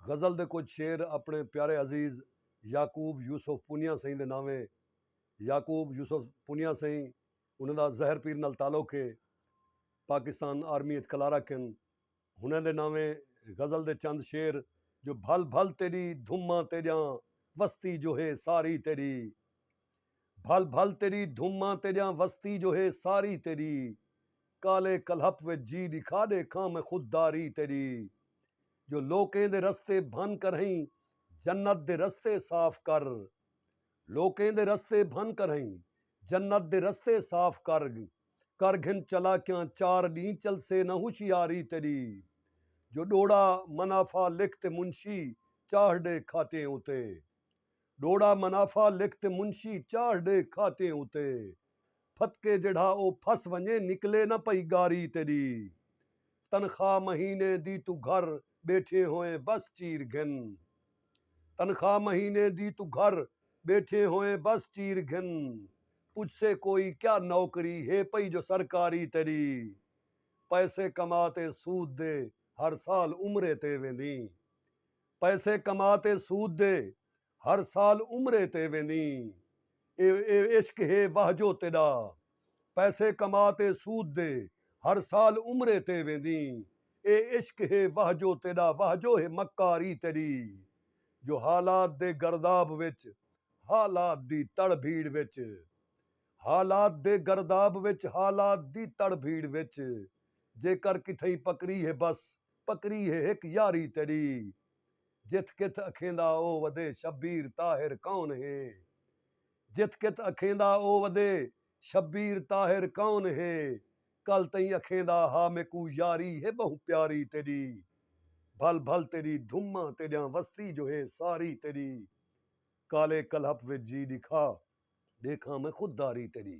غزل دے کجھ شعر اپݨے پیارے عزیز یعقوب یوسف پونیا سئیں دے ناوے یعقوب یوسف پونیا سئیں انہاں دا زہر پیر نال تعلق ہے پاکستان آرمی اچ کلارک ہن ہنہاں دے ناوے غزل دے چند شعر جو بھل بھل تیݙی دھماں تیݙیاں وستی جو ہے ساری تیݙی بھل بھل تیݙی دھماں تیݙیاں وستی جو ہے ساری تیݙی کالے کلہپ وچ جی ݙکھا ݙیکھاں میں خود داری تیݙی جو لوکیں دے رستے بھن کرہیں جنت دے رستے صاف کر لوکیں دے رستے بھن کرہیں جنت دے رستے صاف کر کر گھن چالاکیاں چار ݙینہہ چلسے نہ ہوشیاری تیݙی جو ݙوڑا منافع لکھ تے منشی چاہڑ ݙے کھاٹیں اتے ݙوڑا منافع لکھ تے منشی چاڑھ ݙے کھاتیں اتے پھتکے جیڑھا او پھس ونڄے نکلے نہ پئی ڳاری تیݙی تنخواہ مہینے دی توں گھر ٻیٹھیں ہوئیں بس چیر گھن تنخواہ مہینے دی توں گھر ٻیٹھیں ہوئیں بس چیر گھن پچھسے کوئی کیا نوکری ہے پئی جو سرکاری تیݙی پیسے کما تے سود دے ہر سال عمرے تے ویندیں پیسے کما تے سود دے ہر سال عمرے تے ویندیں اے اے عشق ہے واہ جو تیڈا پیسے کما تے سود دے ہر سال عمرے تے ویندیں اے عشق ہے واہ جو تیڈا واہ جو ہے مکاری تیڈی جو حالات دے گرداب وچ حالات دی تڑ بھیڑ وچ حالات دے گرداب وچ حالات دی تڑ بھیڑ وچ جیکر کتھئیں پکڑی ہے بس پکری ہے ہک یاری تیݙی۔ جتھ کتھ اکھیندا او ودے شبیر طاہر کون ہے جتھ کتھ اکھیندا او ودے شبیر طاہر کون ہے کل تئیں اکھیندا ہا میکوں یاری ہے ٻہوں پیاری تیݙی بھل بھل تیݙی دھماں تیݙیاں وستی جو ہے ساری تیݙی کالے کلہپ وچ جی ݙکھا ݙیکھاں میں خود داری تیݙی۔